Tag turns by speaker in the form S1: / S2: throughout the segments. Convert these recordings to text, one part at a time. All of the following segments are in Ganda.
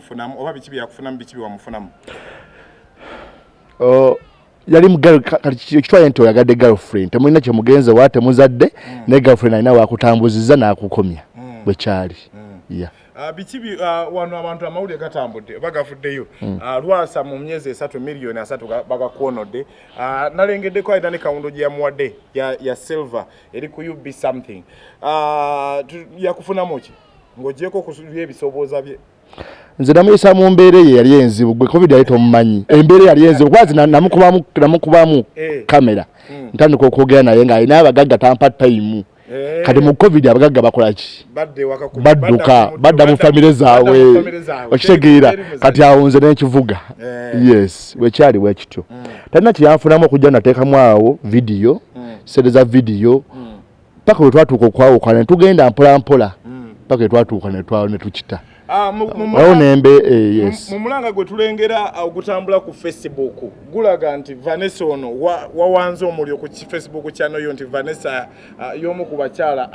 S1: byamufunamu oba biki byakufunamu biki byewamufunamu
S2: oh, yali mukitwale nti oyagadde girlfriend temulina kyemugenze wa temuzadde mm. ne girlfriend alina wakutambuziza nakukomya mm. bwekyali mm. ah, biki
S1: ah, wano abantu amawulire gatambudde oba gavuddeyo ah, lwasa mu myezi esatu miliyoni asatu bagakwonodde nalengeddeko alina ne kawundo gye yamuwadde ya silver eri ku ub something yakufunamu ki ng'ogyeko ku by'ebisobooza bye nze namuyisa
S2: mu mbeera eyo eyali enzibu gwe covid yali tomumanyi embeera eyali enzibu kwazi namukubamu namukubamu eh. kamera hmm. ntandika okwogera naye nga alina abagagga tampa tayimu eh. kati mu covid abagagga bakolaki badduka badda mu famire zaabwe okitegeera kati awo nze nekivuga eh. yes wekyali wekityo hmm. talina kyeyanfunamu okujja nateekamu awo vidiyo hmm. sente za vidiyo paka we twatuuka okwawukana tugenda mpola mpola mm. paka we twatuuka ne twa ne tukita ah, awo nembe eh, yes mu mulanga gwe tulengera
S1: ah, ogutambula ku Facebook gulaga nti Vanessa ono wawanze wa omulyo ku Facebook channel yo nti Vanessa ah, yomu ku bakyala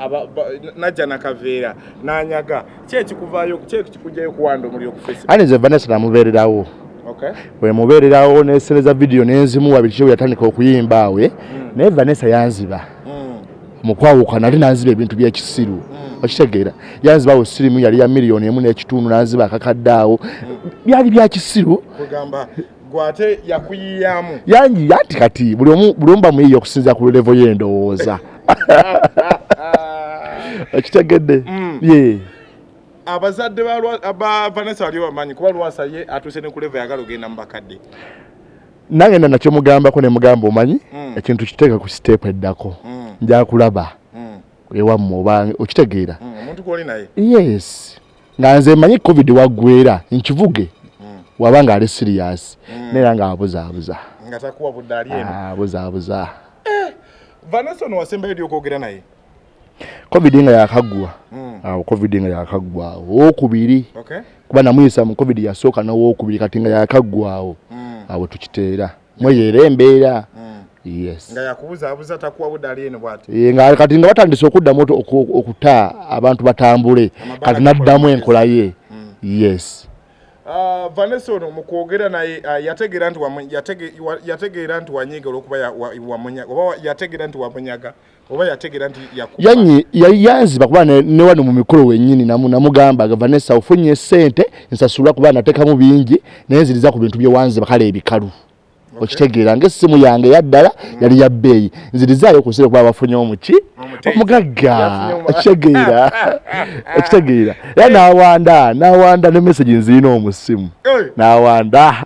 S1: najja na kaveera nanyaga kye kikuvayo kye kikujayo kuwanda omulyo ku Facebook ani ze Vanessa namubererawo
S2: okay we
S1: mubererawo
S2: ne sereza video nenzimu wabikyo yatandika okuyimba awe mm. ne Vanessa yanziba mm. mukwawuka nali nanziba ebintu byekisiru mm. okitegeera yanzibawo sirimu yali ya miliyoni emu n'ekitundu nanziba akakadde awo mm. byali byakisiru
S1: gwate yakuyiyamu yangi yati
S2: kati buli omu buli omu bamuyiya okusinza ku levo y'endowooza okitegedde mm. ye
S1: abazadde ba vanessa wali bamanyi kuba lwasa ye atuuse ne kuleva yagala ogenda mu bakadde nangenda
S2: nakyomugambako nemugamba omanyi mm. ekintu kiteeka ku siteepu eddako mm. njakulaba mm. ewammwe oba okitegeera
S1: yes
S2: nga nze manyi covid waggwera nkivuge waba nga ali siriyasi naera nga abuzaabuza
S1: abuzaabuza ah, eh, vanessa ono wasembayo dy okwogera naye covid
S2: nga yakaggwa hmm. awo covid nga yakaggwawo owokubiri kuba namuyisa mu covid yasooka nowokubiri kati nga yakaggwawo hmm. awo tukiteera mweyo era embeera
S1: nga kati nga batandise
S2: okuddamu okuta abantu batambule kati naddamu enkola ye hmm. yes ah,
S1: vanessa ono mukwogera naye ah, yategeera nti yategeera nti wanyiga olwokuba oba yategeera nti wamunyaga oba yategera nti yakuba yanyi yayanzi bakuba
S2: ne, ne wano mu mikolo wenyini namu namugamba agava ne sawo funye sente nsasula kuba nateka mu bingi naye nziriza ku bintu bye wanzi bakala ebikalu okay. okitegera nge simu yange yaddala mm. yali ya beyi nziriza yo kusira kuba bafunye omuki omugagga okitegera okitegera era nawanda nawanda ne message nzirina omusimu hey. nawanda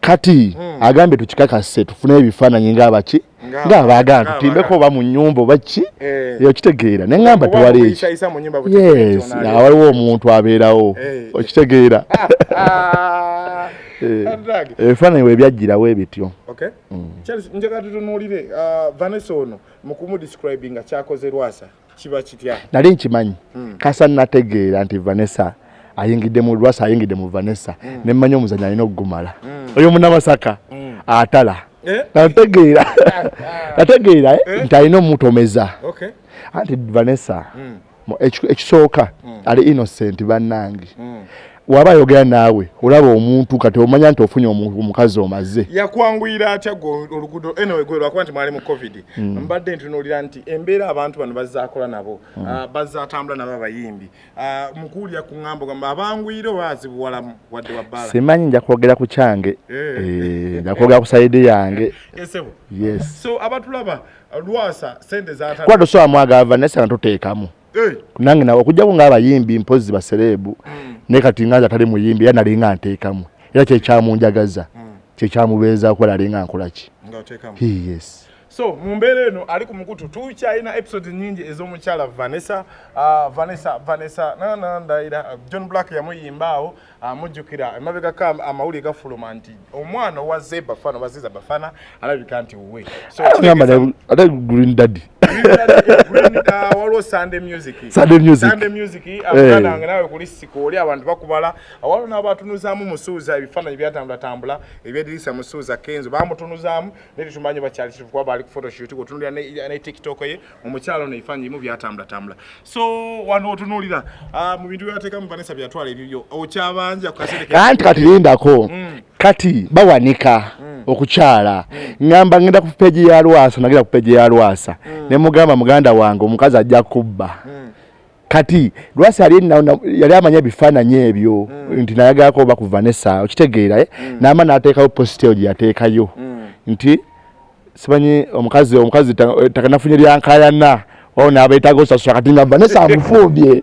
S1: kati hmm.
S2: agambye tukikakase tufune ebifaananyi ngaabaki ngaabaagala tutimbeko oba mu nyumba oba ki eh. okitegeera ne ŋŋamba tewali eki yes awaliwo omuntu abeerawo eh. okitegeera eh. ebifaananyi we byajjirawo ebityo hmm.
S1: njagala tutunuulire uh, vanessa ono mu kumudescribinga kyakoze lwasa kiba kitya nali nkimanyi hmm.
S2: kasa nategeera nti vanessa ayingidde mu lwasa ayingidde mu vanessa hmm. ne mmanya omuzanyo alina okugumala hmm. oyo munamasaka atala eh? nategeera nategeera eh? Eh? nti alina omutomeza anti vanessa ekisooka ali innocent bannange waba ayogera naawe olaba omuntu kati omanya nti ofunye omukazi omaze yakwanguyira atya
S1: olugudo enawe gwe lwakuba nti mwali mu covid hmm. mbadde ntunuulira nti embeera abantu bano bazakola nabo hmm. ah, bazatambula nabo abayimbi ah, mukuwulira ku ŋambo gamba abanguyire oba azibuwalamu wadde wabbala simanyi nja kwogera ku
S2: kyange eh. Eh, nja kwogera ku sayidi yange eh, yes so abatulaba
S1: lwasa sente zata kwado so amwaga ava naye
S2: sanga tuteekamu eh. nange nawe okujjako ng'abayimbi mpozzi basereebu hmm. naye kati nga nze atali muyimbi era nalinga nteekamu era kyekyamunjagaza hmm. kyekyamubeezaako era alinga nkolaki
S1: yes
S2: so mu mbeera
S1: eno ali ku mukutu tukyalina episode nyingi ez'omukyala vanessa uh, vanessa vanessa nanandayira john black yamuyimba awo Ah, mujjukira emabegako amawulire gafuluma nti omwana owa zeba fana oba ziza bafana alabika nti wuwe ate
S2: green daddy
S1: ah, waliwo sunday music sunday music sunday music eh. abana nga nawe kuli siko oli abantu bakubala awalo nabo atunuzamu musuuza ebifananyi byatambula tambula ebyedirisa musuuza kenzo bamutunuzamu neti tumanyi bakyali kiri kuba bali ku photoshoot kutunulira ne tiktok ye omukyalo ono ebifaanyi bimu byatambula so wano otunuulira ah, mu bintu byebateekamu vanessa byatwala ebibyo okyabanja kukaseekanti kati lindako mm.
S2: kati bawanika mm. okukyala mm. ngamba ngenda ku peji ya lwasa nagenda ku peji ya lwasa mm. ne mugamba muganda wange omukazi ajja kubba mm. kati lwasi yali amanya ebifaananyi ebyo mm. nti nayagalako oba ku vanessa okitegeera eh? mm. naama nateekayo positeyo gye yateekayo mm. nti simanyi omukazi omukazi takanafunye lyankayana wao nabeetaga osasula kati nga vanessa amufumbye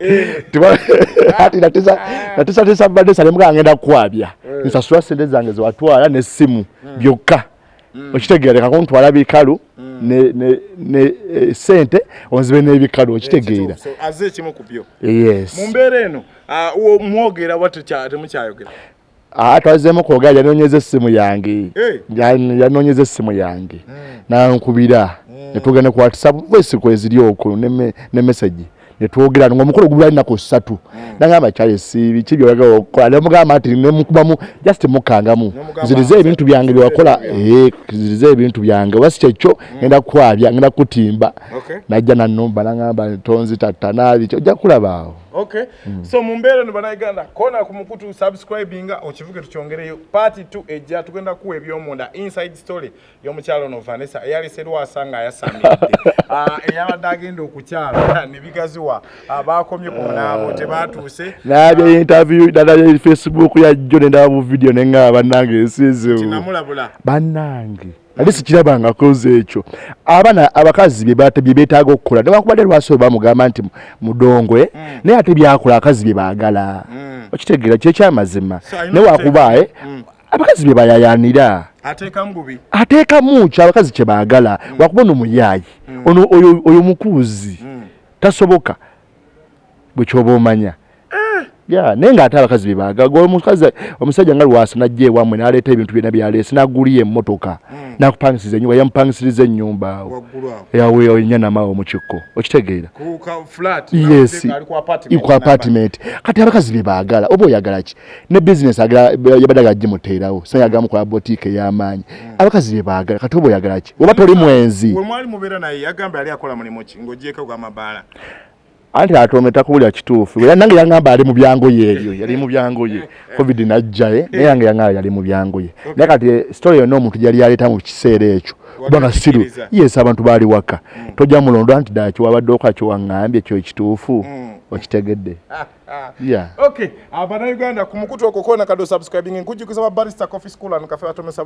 S2: ati natisatisa vanessa nemuga ngenda kukwabya eh. nsasula sente zange zewatwala nesimu hmm. byokka hmm. okitegeera leka kuntwala bikalu hmm. ne eh, sente onzibe n'ebikalu okitegeera aze ekimu kubyo
S1: yes mu mbeera
S2: eno
S1: ah, mwogera watemukyayogera Ah, twazemu
S2: kwogera yanonyeza essimu yange eh. yanonyeza essimu yange hmm. nankubira hmm. netugenda ku whatsapp voice kweziri oku ne message netwogera nga omukolo gubula nako satu hmm. nangamba kyale sibi kibi olaga okola ne mugamba ati ne mukubamu just mukangamu zirize ebintu byange byakola eh zirize ebintu byange basi kyekyo ngenda kwabya ngenda kutimba najja na numba nangamba tonzi tatana bicho jakulabaawo Okay. Mm. So
S1: mumbere no banayiganda kona kumukutu subscribing okivuke tukyongereyo part 2 ejja tugenda kuwa ebyomunda inside story yo mukyalo no Vanessa eyali serwa asanga yasamide. Ah uh, eyabadde agenda okukyala ne bigaziwa abakomye ah, ku nabo te batuse. Nabe uh, interview
S2: dada ya Facebook ya John ndabu video nenga banange esizo. Tinamulabula.
S1: Banange.
S2: nali sikiraba nga koze ekyo abana abakazi bye betaaga okukola newakubadde lwasi oba mugamba nti mudongwe eh? mm. naye ate byakola abakazi bye baagala mm. okitegeera kyo ekyamazima newakuba eh? mm. abakazi bye bayayanira ateekamu kyo abakazi kye baagala mm. wakuba ono muyaayi mm. ono oyo mukuuzi mm. tasoboka bwekyoba omanya ah! ya naye nga ate abakazi bebagaga omukazi omusajja nga lwasa najja ewamwe naleeta ebintu byona byaleese naguliyo emmotoka hmm. nakupangisiza enyumba yamupangisiriza ennyumba awo yaweewo enyanamawo mukikko okitegeera yes ku apartment kati abakazi bebagala oba oyagala ki ne bizinesi yabadde agala gimuteerawo sa yagamu kola botiika ey'amaanyi hmm. abakazi bebagala kati oba oyagala ki oba toli mwenzi
S1: anti
S2: atome takubulira kituufu nange yangamba ali mubyangoye ebyo yali mubyangoye covid najjae eh? naye yange yangamba yali mubyangoye naye kati eh, story yonna omuntu gyali yaleeta mu kiseera ekyo kubanga siru yes abantu baali waka mm. tojja mulondo anti ddala kiwabadde oka kiwaŋŋambye ekyo ekituufu mm. okitegedde
S1: okay abanauganda ku mukutu okwo kona kado subscribing nkujjukiza babarista coffee school and cafe batomesa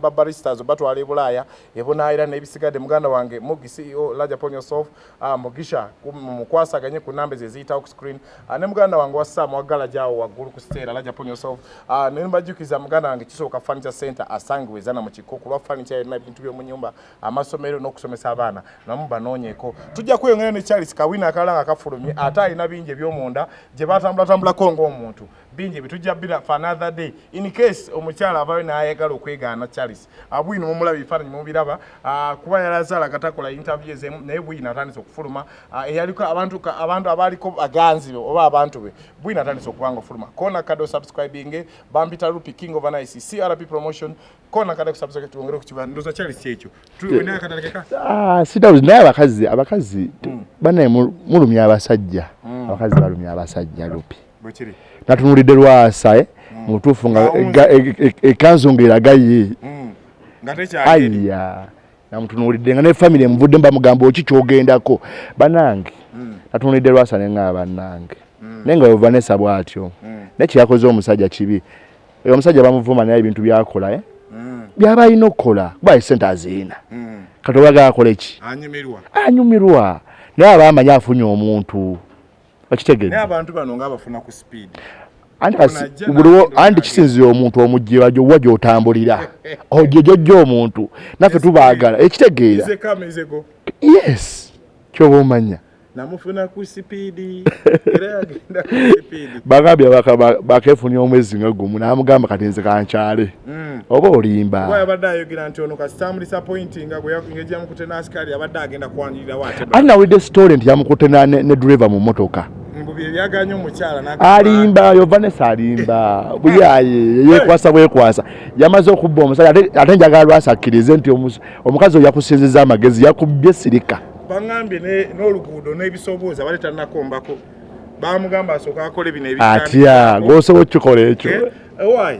S1: babaristas uh, batwala ebulaaya ebunaayira n'ebisigadde muganda wange mugi ceo laja ponyosof Ah, mugisha mukwasaganye ku namba ezo eziyitawo ku screen ah, ne muganda wange wa sam waggala gyawo waggulu ku siteera laja pon yourself ah, ne mbajjukiza muganda wange kisooka furniture center asangiwa ezana mu kikko kulwa furniture yonna ebintu by'omu nyumba amasomero n'okusomesa abaana namu banoonyeko tujja kweyongera ne charles kawina akalala nga kafulumye ate alina bingi eby'omunda gye batambulatambulako ng'omuntu bingi ebitujja bira for another day in case omukyala avayo n'ayagala okwegaana charles abwino ah, mumulaba ebifaananyi mubiraba ah, kuba yalaze alagatakola interview ezemu naye bwino atandise okufuluma ah, eyaliko abantu abantu abaaliko baganzi be oba abantu be bwino atandise okubanga ofuluma kona kade osubscribinge bampita rupi king of nice crp promotion kona kade kusubscribe tuongere kukiba ndoza chali si ekyo naye katalekeka ah sidawuzi naye
S2: abakazi abakazi hmm. banaye mulumya abasajja hmm. abakazi balumya abasajja rupi
S1: natunulidde
S2: lwasa eh? mm. mutuufu nga ekanzu e, e, nga eragaye mm. aya namutunulidde nga ne famire muvudde mbamugamba oki kyogendako banange mm. natunulidde lwasa nenga banange naye nga wevanesa bwatyo naye kyeyakoze omusajja kibi omusajja bamuvuma naye ebintu byakola eh? byaba alina okukola kuba esente aziina kati obagala akoleki anyumirwa naye aba amanyi
S1: afunye
S2: omuntu okitegedde
S1: naye abantu
S2: bano
S1: nga abafuna ku speed
S2: anti kisinzira omuntu omujjira gyowa gyotambulira ogyo gyojja omuntu naffe tubaagala ekitegeera yes kyoba omanya namufuna ku
S1: sipiidi era yagenda ku sipiidi bagambye
S2: bakefunya omwezi nga gumu namugamba kati nze kankyale Mm. oba olimba kuba yabadde ayogera nti
S1: ono kasita amudisapointinga ngeri yamukute n'asikaali abadde agenda kwanirirawo ate ani nawulidde sitole nti
S2: yamukute ne driva mu motoka byebyaganya
S1: omukyala alimba yo vanessa
S2: alimba buyaye yekwasa bwekwasa yamaze okubba omusajja ate njagala lwasa akkirize nti omukazi oyo yakusinziza amagezi yakubbye sirika baŋambye
S1: n'oluguudo n'ebisobooza bali tanakombako bamugamba asooka akole bino atya ngaosobola
S2: okukikola ekyo eh, eh,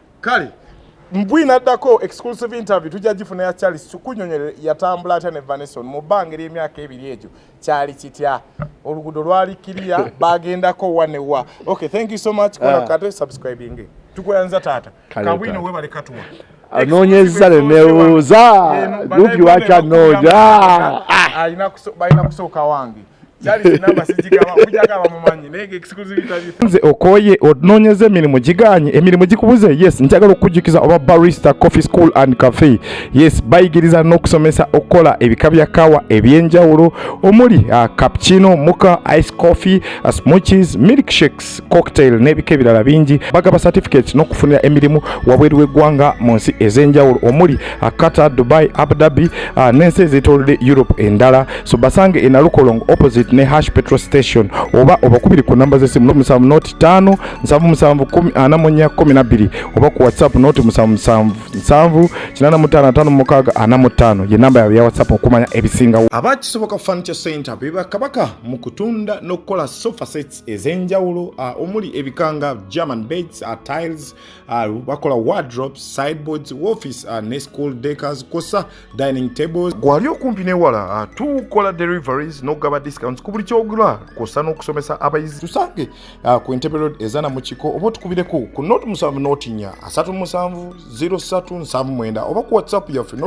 S2: kale
S1: mbwi naddako exclusive interview tujja gifuna ya charles tukunyonyere yatambula atya ne vaneson mu bbanga ery'emyaka ebiri egyo kyali kitya oluguudo lwali kiriya bagendako wa ne wa okay thank you so much kola ah. kate subscribing tukweyanza taata kabwino webale katuwa anoonyezza
S2: ne nebuuza lupi wakyanonya
S1: alina kusooka wange
S3: nze okoye ononyeza emirimu giganye emirimu gikubuze yes njagala okukujjukiza oba barista coffee school and cafe yes bayigiriza n'okusomesa okukola ebika bya kawa ebyenjawulo omuli uh, cappuccino muka ice coffee uh, smoothies milk shakes drinks cocktail n'ebika ebirala bingi bagaba certificate n'okufunira emirimu wabweru w'eggwanga mu nsi ez'enjawulo omuli uh, qatar dubai abu dhabi uh, n'ensi ezeetoolodde europe endala so basange enalukolong opposite ne hash petrol station oba obakubiri ku namba z'essimu noti musanvu noti ttaano nsanvu musanvu kumi ana mu nnya kumi na bbiri oba ku whatsapp noti musanvu musanvu nsanvu kinaana mu ttaano ataano mu mukaaga ana mu ttaano ye namba yaabwe ya whatsapp okumanya ebisingawo abakisoboka furniture
S1: center bebakabaka mu kutunda n'okukola sofa sets ez'enjawulo uh, omuli ebikanga german beds uh, tiles uh, bakola wardrobes sideboards office uh, ne school decors kosa dining tables gwali okumpi newala uh, tukola deliveries n'okugaba discounts ku buli kyogula kosa n'okusomesa abayizi tusange uh, ku entebe road ezana mu kiko oba otukubireko ku not musanvu notinya asatu musanvu 03 nsanvu mwenda oba ku whatsapp yaffe